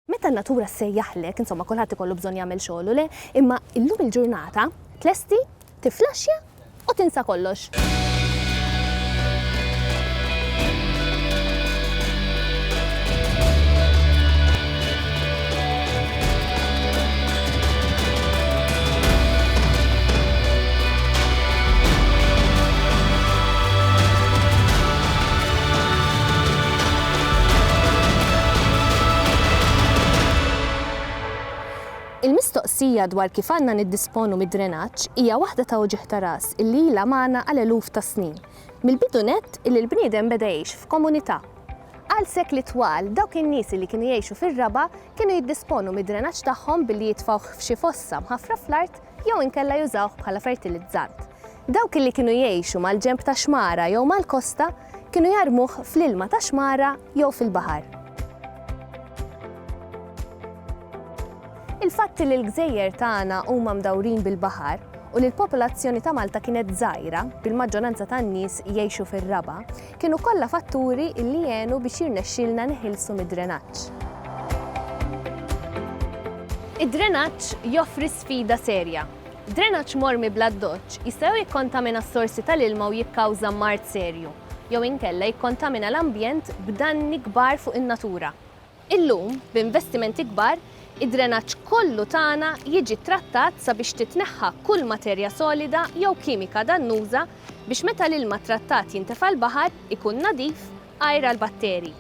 Meta n-natura ssejjaħlek, insomma kulħadd ikollu bżonn jagħmel xogħlu, le? Imma illum il-ġurnata tlesti, tiflaxxja u tinsa kollox. Il-mistoqsija dwar kif għandna niddisponu mid-drenaġġ hija waħda ta' uġigħ ta' ras illi ilha magħna għal eluf ta' snin, mill-bidu nett illi l-bniedem beda jgħix f'komunità. Għal sekli twal, dawk in-nies li kienu jgħixu fir-raba' kienu jiddisponu mid-drenaġġ tagħhom billi jitfgħuh f'xi fossa mħaffra fl-art jew inkella jużawh bħala fertilizzant. Dawk li kienu jgħixu mal-ġenb ta' xmara jew mal-kosta kienu jarmuh fl-ilma tax-xmara jew fil-baħar. Il-fatt li l-gżejjer tagħna huma mdawrin bil-baħar u li l-popolazzjoni ta' Malta kienet żgħira, bil-maġġoranza tan-nies jgħixu fir-raba', kienu kollha fatturi li għenu biex jirnexxielna niħilsu mid-drenaġġ. Id-drenaġġ joffri sfida serja. Drenaġġ mormi bl-addoċċ jista' jew jikkontamina s-sorsi tal-ilma u jikkawża mard serju, jew inkella jikkontamina l-ambjent b'danni kbar fuq in-natura. Illum, b'investimenti kbar, id-drenaġġ kollu tagħna jiġi ttrattat sabiex titneħħa kull materja solida jew kimika dannuża biex meta l-ilma ttrattat jintefa' l-baħar ikun nadif, għajr għall-batteri.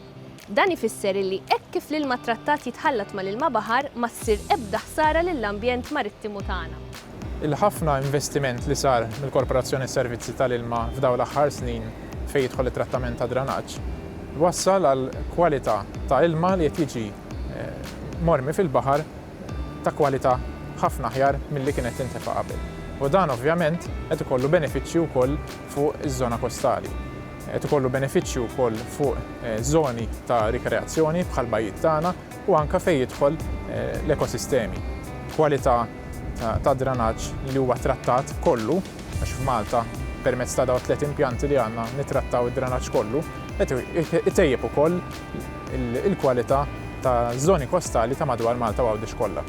Dan ifisser illi hekk kif l-ilma ttrattat jitħallat mal-ilma baħar ma ssir ebda ħsara lill-ambjent marittimu tagħna. Il-ħafna investiment li sar mill-Korporazzjoni Servizzi tal-Ilma f'dawn l-aħħar snin fejn jidħol it-trattament tad-dranaġġ, wassal għal kwalità ta' ilma li qed jiġi mormi fil-baħar ta' kwalità ħafna aħjar milli kien qed tintefa' qabel. U dan ovvjament qed ikollu benefiċċji wkoll fuq iż-żona kostali. Qed ikollu benefiċċju wkoll fuq żoni ta' rikreazzjoni bħall-bajjiet tagħna. u anke fejn jidħol l-ekosistemi. Kwalità tad-dranaġġ li huwa ttrattat kollu, għax f'Malta permezz ta' dawn it-tliet impjanti li għandna nittrattaw id-dranaġġ kollu, qed itejjeb ukoll il-kwalità taż-żoni kostali ta' madwar Malta u Għawdex kollha.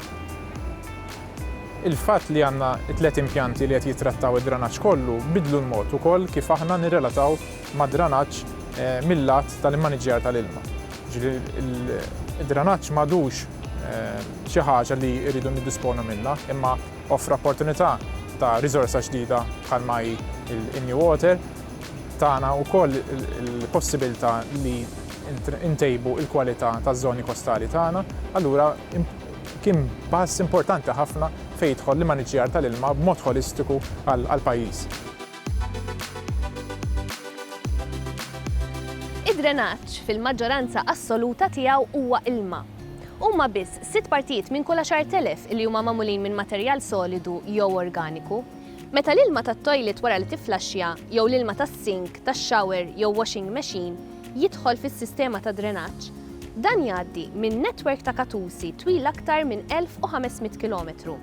Il-fatt li għandna t-tliet impjanti li qed jittrattaw id-dranaġġ kollu biddlu l-mod ukoll kif aħna nirrelataw mad-dranaġġ mil-lat tal-immaniġġjar tal-ilma. Jiġifieri d-dranaġġ m'għadux xi ħaġa li rridu niddisponu minnha, imma offra opportunità ta' riżorsa ġdida bħalma hi l-NewWater, tana wkoll il-possibilità li ntejbu l-kwalità taż-żoni kostali tagħna, allura kien pass importanti ħafna fejn jidħol l-immaniġġjar tal-ilma b'mod ħolistiku għall-pajjiż. Id-drenaġġ fil-maġġoranza assoluta tiegħu huwa ilma. Huma biss sitt partijiet minn kull 10,000 li huma magħmulin minn materjal solidu jew organiku. Meta l-ilma tat-toilet wara li tifflaxxja jew l-ilma tas-sink, tax-shower jew washing machine jidħol fis-sistema ta' drenaġġ, dan jgħaddi minn netwerk ta' katusi twil aktar minn 1,500 kilometru.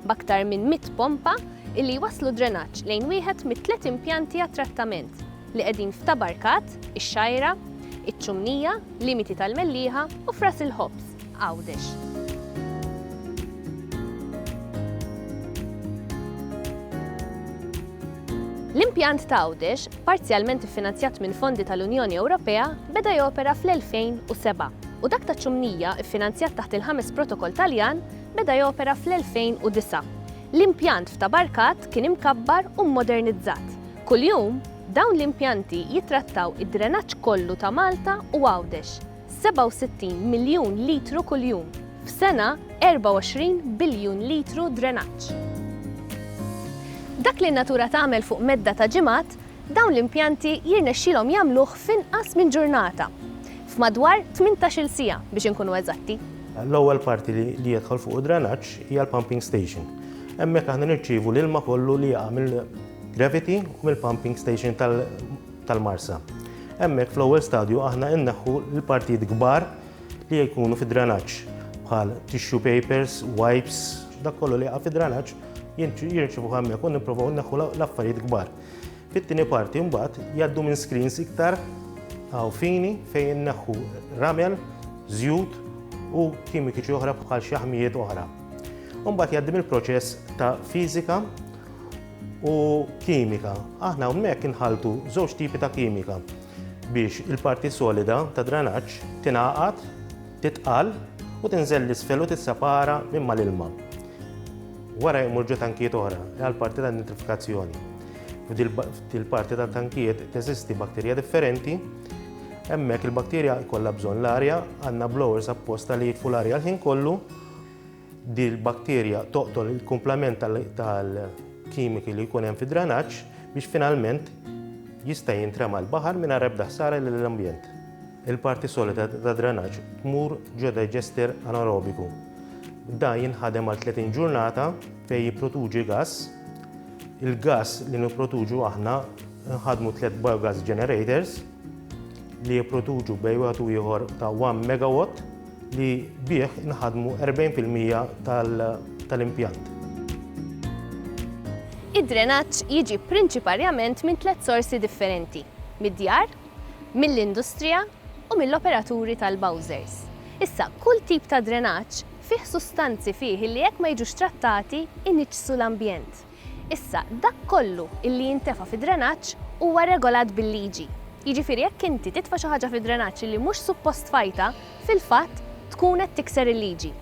b'aktar minn 100 pompa illi jwasslu d-drenaġġ lejn wieħed mit-tliet impjanti għat-trattament li qegħdin f'Ta' Barkat, ix-Xgħajra, iċ-Ċumnija, Limiti tal-Mellieħa u f'Ras il-Ħobż, Għawdex. L-impjant ta' Għawdex, parzjalment iffinanzjat minn fondi tal-Unjoni Ewropea, beda jopera fl-2007 u dak taċ-Ċumnija, iffinanzjat taħt il-ħames Protokoll Taljan, Beda jopera fl-2009. L-impjant f'Ta' Barkat kien imkabbar u mmodernizzat. Kuljum, dawn l-impjanti jittrattaw id-drenaġġ kollu ta' Malta u Għawdex, 67 miljun litru kuljum, f'sena 24 biljun litru drenaġġ. Dak li n-natura tagħmel fuq medda ta' ġimgħat Dawn l-impjanti jirnexxilhom jagħmluh f'inqas minn ġurnata, f'madwar tmintax-il siegħa biex inkunu eżatti. L-ewwel parti li jidħol fuq id-drenaġġ hija l-pumping station. Hemmhekk aħna nirċievu l-ilma kollu li jaqa' mill-gravity u mill-pumping station tal-Marsa. Hemmhekk fl-ewwel stadju aħna inneħħu l-partijiet kbar li jkunu fid-drenaġġ bħal tissue papers, wipes, dak kollu li jaqa' fid-drenaġġ jirċievuh hemmhekk u nipprovaw inneħħu l-affarijiet kbar. Fit-tieni parti mbagħad jgħaddu minn screens iktar għaw fini fejn neħħu ramel, żjut u kimikiċi oħra bħal xi ħmijiet oħra. Mbagħad jgħaddim il-proċess ta' fiżika u kimika. Aħna hawnhekk inħaltu żewġ tipi ta' kimika biex il-parti solida ta' dranaġġ tingħaqad Titqal u tinżel l-isfel u tissepara minn mal-ilma. Wara jmur ġo tankijiet oħra għal parti ta' nitrifikazzjoni. F'dil parti ta' tankijiet teżisti bakterja differenti. Hemmhekk il-bakterja jkollha bżonn l-arja, għandna blowers apposta li jitfu l-arja l-ħin kollu Din il-bakterja toqtol il-kumplament tal-kimiki li jkun hemm fid-dranaġġ biex finalment jista' jintrema l-baħar mingħajr ebda ħsara lill-ambjent. Il-parti solida tad-dranaġġ tmur ġo digester anaerobiku. Dan jinħadem għal 30 ġurnata fejn jipproduċi gass. Il-gass li nipproduċu aħna nħadmu tliet biogas generators li jipproduċu bejn wieħed u ieħor ta' 1 megawatt li bih inħadmu 40 fil-mija tal-impjant. Id-drenaġġ jiġi prinċiparjament minn tliet sorsi differenti, mid-djar, mill-industrija u mill-operaturi tal-bowsers. Issa, kull tip ta' drenaġġ fih sustanzi fih li jekk ma jiġux trattati, iniġġsu l-ambjent. Issa, dak kollu illi jintefa' fid-drenaġġ huwa regolat bil-liġi. Jiġifieri jekk inti titfa' xi ħaġa fid-drenaġġ illi mhux suppost tfajtha, fil-fatt tkun qed tikser il-liġi.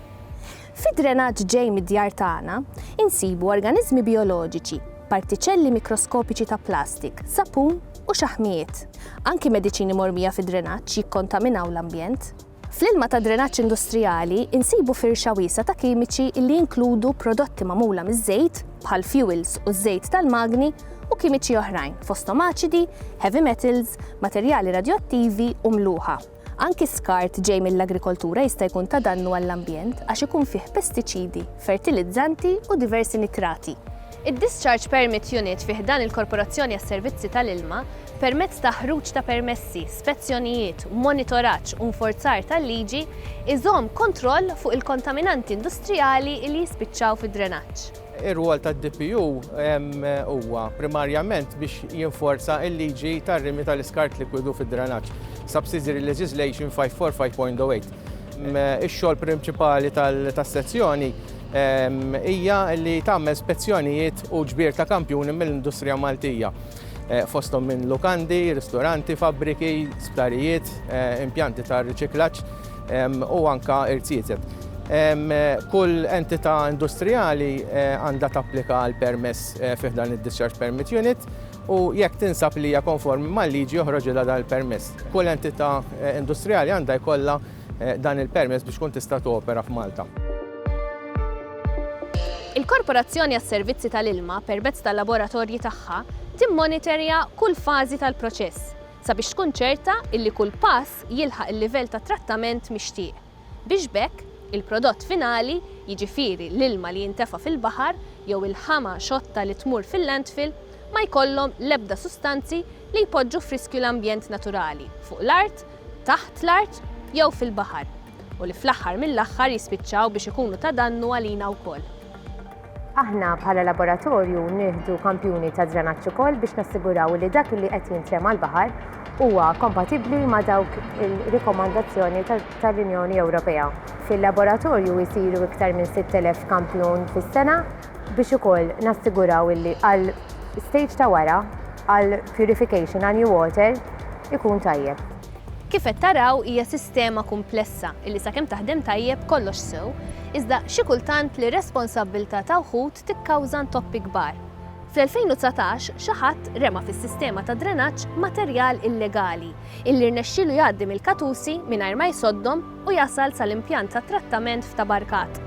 Fid-drenaġġ ġej mid-djar tagħna, insibu organiżmi bijoloġiċi, partiċelli mikroskopiċi ta' plastik, sapun u xaħmijiet. Anki mediċini mormija fid-drenaġġ jikkontaminaw l-ambjent. Fl-ilma tad-drenaġġ industrijali nsibu firxa wiesgħa ta' kimiċi li jinkludu prodotti magħmula miż-żejt, bħal fjuwils u ż-żejt tal-magni, u kimiċi oħrajn, fosthom aċidi, heavy metals, materjali radjoattivi u mluħa. Anki skart ġej mill-agrikoltura jista' jkun ta' dannu għall-ambjent għax ikun fih pestiċidi, fertilizzanti u diversi nitrati. Id-Discharge Permit Unit fi ħdan il-Korporazzjoni għas-Servizzi tal-Ilma, permezz ta' ħruġ ta' permessi, spezzjonijiet, monitoraġġ u nforzar tal-liġi, iżomm kontroll fuq il-kontaminanti industrijali li jispiċċaw fid-drenaġġ. Ir-rwol tad-DPU huwa primarjament biex jinforza l-liġi tar-rimi tal-iskart likwidu fid-drenaġġ, Subsidiary Legislation 545.08. Ix-xogħol prinċipali tas-sezzjoni hija li tagħmel spezzjonijiet u ġbir ta' kampjuni mill-industrija Maltija, fosthom minn lukandi, ristoranti, fabbriki, sptarijiet, impjanti ta' riċiklaġġ u anke irziezet. Kull entità industrijali għandha tapplika għal permess fi ħdan id-Discharge Permit Unit u jekk tinsab li hija konformi mal-liġi joħroġilha dan il-permess. Kull entità industrijali għandha jkollha dan il-permess biex tkun tista' topera f'Malta. Il-Korporazzjoni għas-Servizzi tal-Ilma, permezz tal-laboratorji tagħha, timmonitorja kull fażi tal-proċess sabiex tkun ċerta illi kull pass jilħaq il-livell ta' trattament mixtieq. biex b'hekk il-prodott finali, jiġifieri l-ilma li jintefa' fil-baħar jew il-ħama xotta li tmur fil-landfill, ma jkollhom l-ebda sustanzi li jpoġġu f'riskju l-ambjent naturali fuq l-art, taħt l-art jew fil-baħar u li fl-aħħar mill-aħħar jispiċċaw biex ikunu ta' dannu għalina wkoll. Aħna bħala laboratorju nieħdu kampjuni ta' drenaġġ ukoll biex nassiguraw li dak li qed jintrema' l-baħar huwa kompatibbli ma' dawk il-rikomandazzjoni tal-Unjoni Ewropea. Fil-laboratorju jsiru iktar minn 6,000 kampjun fis-sena biex ukoll nassiguraw li għal stage ta' wara, għal purification, għal new water, ikun tajjeb. Kif qed taraw hija sistema kumplessa illi sakemm taħdem tajjeb kollox sew, iżda xi kultant l-irresponsabbiltà ta' wħud tikkawża ntoppi kbar. Fl-2019 xi ħadd rema fis-sistema ta' drenaġġ materjal illegali illi rnexxielu jgħaddi mill-katusi mingħajr ma jsoddhom u jasal sal-impjant tat-trattament f'Tabarkat.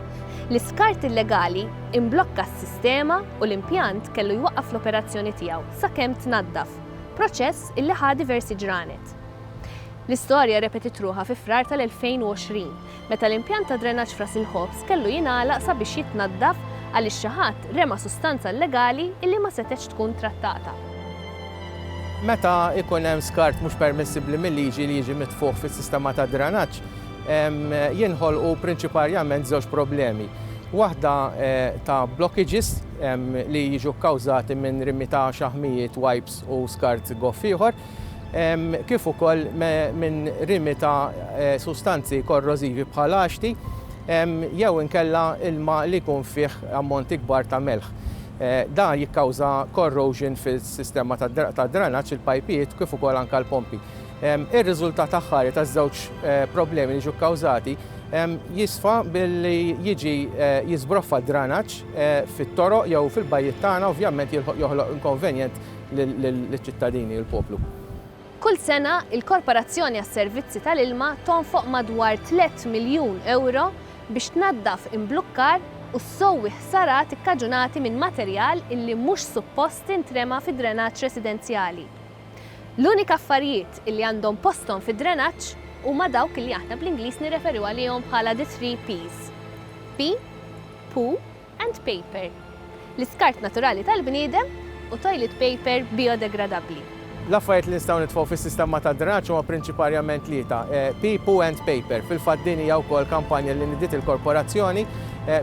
L-iskart illegali imblokka s-sistema u l-impjant kellu jwaqqaf l-operazzjoni tiegħu sakemm tnaddaf. proċess illi ħa diversi ġranet. L-istorja repetit ruħha fi Frar tal-2020, meta l-impjant ta' drenaġġ f'Ras il-Ħobż kellu jingħalaq sabiex jitnaddaf għaliex xi ħadd rema' sustanza illegali illi ma setgħetx tkun trattata. Meta jkun hemm skart mhux permissibbli mil-liġi li jiġi mitfugħ fis-sistema tad-drenaġġ, jinħolqu prinċiparjament żewġ problemi. Waħda ta' blockages li jiġu kkawżati minn rimi ta' xaħmijiet, wipes u skart goff ieħor, kif ukoll minn rimi ta' sustanzi korrożivi bħal għaxti jew inkella ilma li jkun fih ammonti kbar ta' melħ. Dan jikkawża corrosion fis-sistema tad-dranaġġ, il-pajpijiet kif ukoll anke l-pompi. Ir-riżultat aħħari taż-żewġ problemi li ġew kkawżati jisfa billi jiġi jiżbroffa d-dranaġġ fit-toroq jew fil-bajjiet tagħna ovvjament joħloq inkonvenjent liċ-ċittadini u l-poplu. Kull sena, il-Korporazzjoni għas-Servizzi tal-Ilma tonfoq madwar tliet miljun ewro biex tnaddaf imblukkar u ssowwi ħsarat ikkaġunati minn materjal illi mhux suppost intrema fid-drenaġġ residenzjali. L-unika affarijiet li għandhom posthom fid-drenaġġ huma dawk li aħna bl-Ingliż nirreferu għalihom bħala the three P's, pee, poo and paper, l-iskart naturali tal-bniedem u toilet paper bijodegradabbli. L-affarijiet li nistgħu nitfgħu fis-sistema tad-drenaġġ huma prinċiparjament tlieta, pee, poo and paper. Fil-fatt din hija wkoll kampanja li nidiet il-Korporazzjoni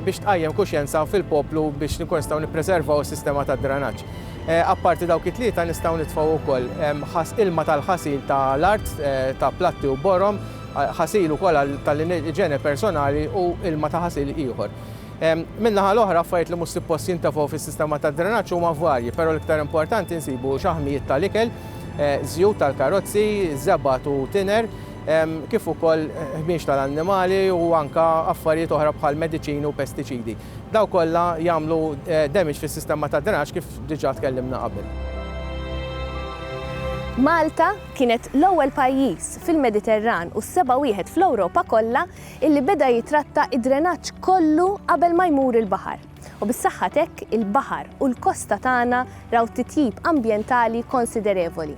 biex tqajjem kuxjenza fil-poplu biex inkunu nistgħu nippreservaw is-sistema tad-drenaġġ. Apparti dawk it-tlieta nistgħu nitfgħu wkoll ħas ilma tal-ħasil ta' l-art, ta' platti u borom, ħasil ukoll għal ta' l-iġene personali u ilma ta' ħasil ieħor. Min-naħa l-oħra affarijiet li mhux suppost jintefgħu fis-sistema tad-drenaġġ huma varji, però l-iktar importanti nsibu xaħmijiet ta' l-ikel, żjut tal-karozzi, żebgħat u tiner, kif ukoll ħmieġ ta' l-annimali u anke affarijiet oħra bħal mediċini u pestiċidi. Dawn kollha jagħmlu damage fis-sistema tad-drenaġġ kif diġà tkellimna qabel. Malta kienet l-ewwel pajjiż fil-Mediterran u s-seba' wieħed fl-Ewropa kollha illi beda jitratta d-drenaġġ kollu qabel ma jmur il-baħar. U bis-saħħa t'hekk il-baħar u l-kosta tagħna raw titjib ambjentali konsiderevoli.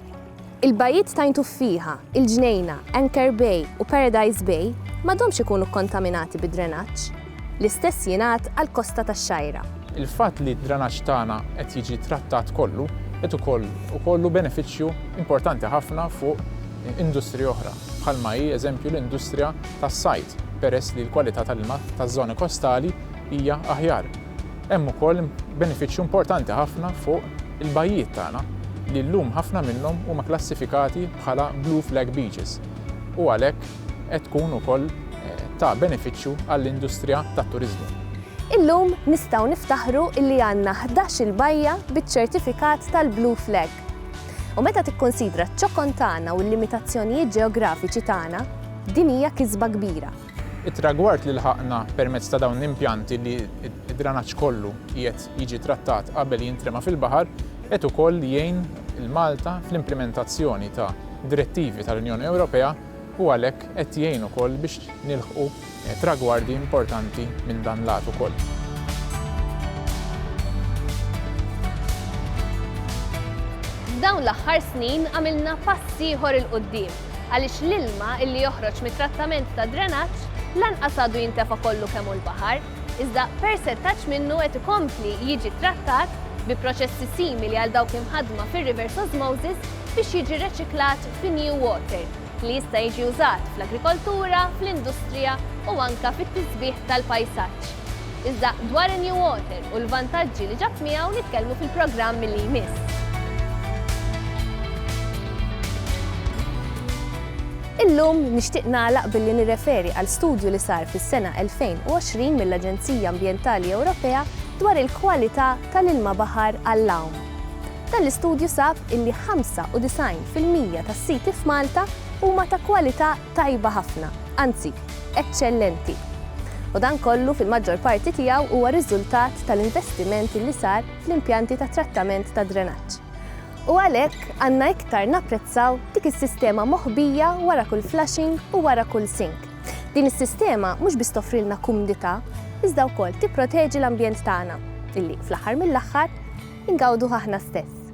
Il-bajjiet t'Għajn Tuffieħa, il-Ġnejna, Anchor Bay u Paradise Bay m'għadhomx ikunu kkontaminati bid-drenaġġ. L-istess jingħad għall-kosta tax-Xgħajra. Il-fatt li d-drenaġġ tagħna qed jiġi trattat kollu qed ukoll ikollu benefiċċju importanti ħafna fuq industriji oħra, bħalma hi eżempju l-industrija tas-sajd, peress li l-kwalità tal-ilma taż-żoni kostali hija aħjar. Hemm ukoll benefiċċju importanti ħafna fuq il-bajjiet tagħna li llum ħafna minnhom huma klassifikati bħala Blue Flag Beaches u għalhekk qed tkun ukoll ta' benefiċċju għall-industrija tat-turiżmu. Illum nistgħu niftaħru illi għandna ħdax-il bajja biċ-ċertifikat tal-Blue Flag. U meta tikkunsidra ċ-ċokon tagħna u l-limitazzjonijiet ġeografiċi tagħna, din hija kisba kbira. It-tragward li lħaqna permezz ta' dawn l-impjanti li d-dranaġġ kollu qiegħed jiġi trattat qabel jintrema fil-baħar qed ukoll jgħin lil Malta fl-implimentazzjoni ta' direttivi tal-Unjoni Ewropea u għalhekk qed jgħin ukoll biex nilħqu tragwardi importanti minn dan l-għad ukoll. F'dawn l-aħħar snin għamilna pass ieħor 'il quddiem. għaliex l-ilma illi joħroġ mit-trattament tad-drenaġġ lanqas għadu jintefa' kollu kemm hu l-baħar, iżda persentaġġ minnu qed ikompli jiġi ttrattat bi proċessi simili għal dawk imħaddma fir-reverse osmosis biex jiġi reċiklat fi new water li jista' jiġi użat fl-agrikoltura, fl-industrija u anke fit-tisbiħ tal-pajsaġġ. Iżda dwar in-New Water u l-vantaġġi li ġab miegħu nitkellmu fil-programm li jmiss. Illum nixtieq nagħlaq billi nirreferi għal studju li sar fis-sena 2020 mill-Aġenzija Ambjentali Ewropea dwar il-kwalità tal-ilma baħar għall-għawm. Dan l-istudju sab illi 95 fil-mija tas-siti f'Malta huma ta' kwalità tajba ħafna, anzi, eċċellenti. U dan kollu fil-maġġor parti tiegħu huwa riżultat tal-investiment li sar fl-impjanti ta' trattament tad-drenaġġ. U għalhekk għandna iktar napprezzaw dik is-sistema moħbija wara kull flushing u wara kull sink. Din is-sistema mhux biss toffrilna kumdità, iżda wkoll tipproteġi l-ambjent tagħna, illi, fl-aħħar mill-aħħar, ingawduh aħna stess.